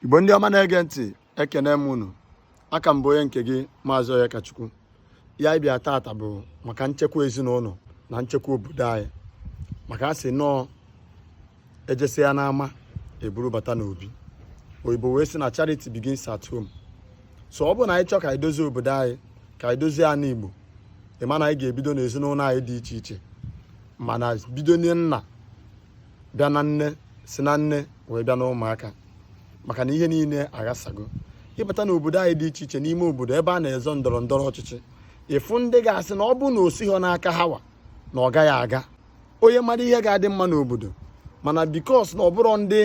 igbo ndị ọma na-ege ntị ekene m unu aka m bụ onye nke gị maazị Onyekachukwu ihe anyị bịa tata bụ maka nchekwa ezinụlọ na nchekwa obodo anyị maka a sị na ọ ejesịa n'ama eburu bata n'obi oyibo wee sị na charity begins at home so ọ bụrụ na anyị chọọ ka anyị dozie obodo anyị ka anyị dozie ana igbo ị ma na anyị ga-ebido n'ezinụlọ anyị dị iche iche mana bido na nna bịa na nne si na nne wee bịa na ụmụaka maka na ihe niile aghasago ị bata n'obodo anyị dị iche iche n'ime obodo ebe a na-azọ ndọrọ ndọrọ ọchịchị ị fụ ndị ga-asị na ọ bụ na o sighị n'aka ha wa na ọ gaghị aga onye mara ihe ga-adị mma n'obodo mana because na ọ bụrọ ndị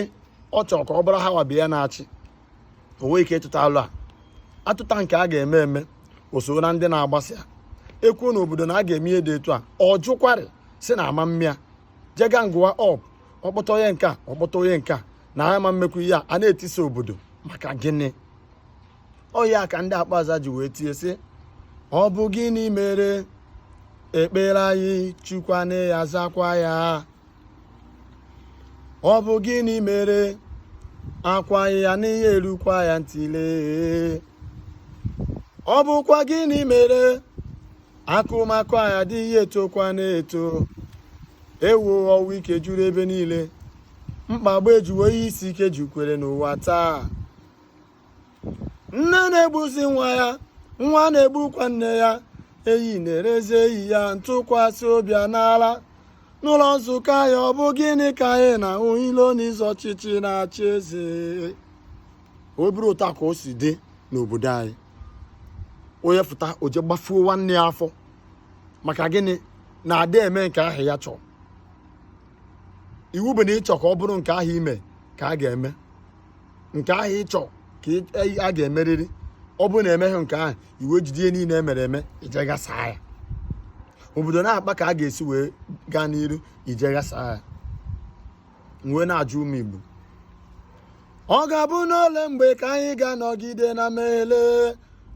ọ chọrọ ka ọ bụrụ ha wa bụ ya na-achị o nwee ike ịtụta alo a atụta nke a ga-eme eme o soro na ndị na-agbasa ya e kwuo n'obodo na a ga-eme ihe dị etu a ọ jụkwarị sị na a ma eme ya jee gangụwa up ọ kpọta onye nke a ọ kpọta onye nke a na ha ma emekwu ihe a a na-etisa obodo maka gịnị ọ ya ka ndị akpaza ji wee tie sị ọ bụ gịnị mere ekpere anyị chukwu anaghị azakwa ya ọ bụ gịnị mere akwa anyị anaghị erukwa ya ntị lee ọ bụkwa gịnị mere akụmakụ anyị adịghị etokwanụ eto ewo ọnwụ ike juru ebe niile mkpagbu ejuwo ihe isi ike jukwara n'ụwa taa nne na-egbuzi nwa ya nwa na-egbukwa nne ya enyi na-erezi enyi ya ntụkwasị obi anala n'ụlọ nzukọ anyị ọ bụ gịnị ka anyị na-ahụ ilo na ịzọ ọchịchị na-achị eze ọ bụrọ otu a ka o si dị n'obodo anyị onye fụta o je gbafuo nwanne ya afọ maka gịnị na adị eme nke ahụ ya chọọ iwu bụ na ị chọ ka ọ bụrụ nke ahụ i me ka a ga-eme nke ahụ ị chọ ka a ga-emerịrị ọ bụrụ na emeghị nke ahụ i wee jide ihe niile emere eme i je ghasa ya obodo na-akpa ka a ga-esi wee gaa n'iru i je ghasa ya wee na-ajụ ụmụ igbo ọ ga-abụ n'ole mgbe ka anyị ga-anọgide na mmehie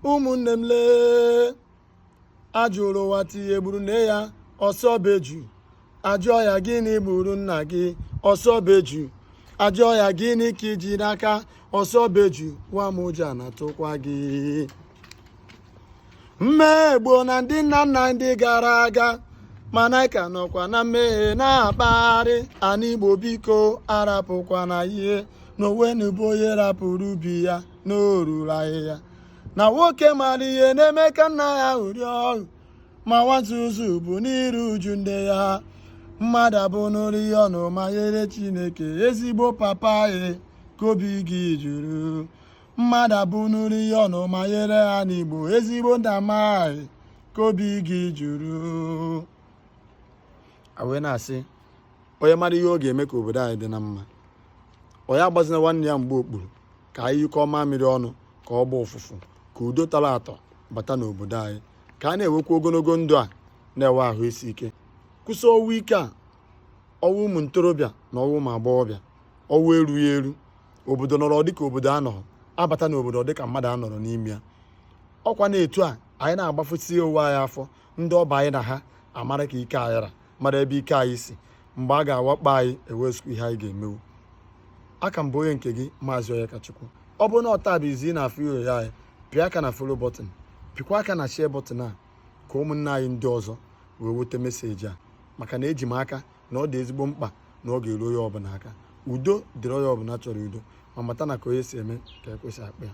ụmụnne m lee a jụrụ nwata ihe gburu nne ya ọ sị ọ bụ eju a jụọ ya gịnị gburu nna gị ọ sị ọ bụ eju a jụọ ya gịnị ka i ji n'aka ọ sị ọ bụ eju nwa m ụjọ na-atụkwa gị mmehie gbuona ndị nna nna ndị gara aga mana a ka nọkwa na mmehie na-akpagharị ana igbo biko arapụkwana ihe na onwenubo onye rapụrụ ubi ya na o ruru ahịhịa na nwoke mara ihe na-eme ka nna ya ṅụrịa ọṅụ ma nwa nzuzu bụ n'iru uju nne ya mmadụ abụnụrụ ihe ọnụma nyere chineke ezigbo papa anyị ka obi gị jụrụ mmadụ abụnụrụ ihe ọnụma nyere ana igbo ezigbo mama anyị ka obi gị jụrụ wee na-asị onye mara ihe ọ ga-eme ka obodo anyị dị na mma onye agbazina nwanne ya mgba okpuru ka anyị nyụkọọ mamịrị ọnụ ka ọ gbaa ụfụfụ ka udo tọrọ atọ bata n'obodo anyị ka a na-enwekwa ogologo ndụ a na-enwe ahụ isi ike kwụsị ọnwụ ike a ọnwụ ụmụ ntorobịa na ọnwụ ụmụ agbọghọbịa ọnwụ erughị eru obodo nọrọ dịka obodo anọrọ a bata n'obodo dịka mmadụ anọrọ n'ime ya ọ kwa na etu a anyị na-agbafusi onwe anyị afọ ndị ọ bụ anyị na ha amara ka ike anyị ra mara ebe ike anyị si mgbe a ga-awakpo anyị e nwezikwa ihe anyị ga-emenwu aka m bụ onye nke gị maazị Onyekachukwu ọ bụrụ na taa bụ izizi ị na-afụ iru anyị pịa aka na follow button pịakwa aka na share button a ka ụmụnne anyị ndị ọzọ wee nweta message a maka na eji m aka na ọ dị ezigbo mkpa na ọ ga-eru onye ọbụla aka udo dịrị onye ọbụla chọrọ udo ma mata na ka onye si eme ka e kwesị akpa ya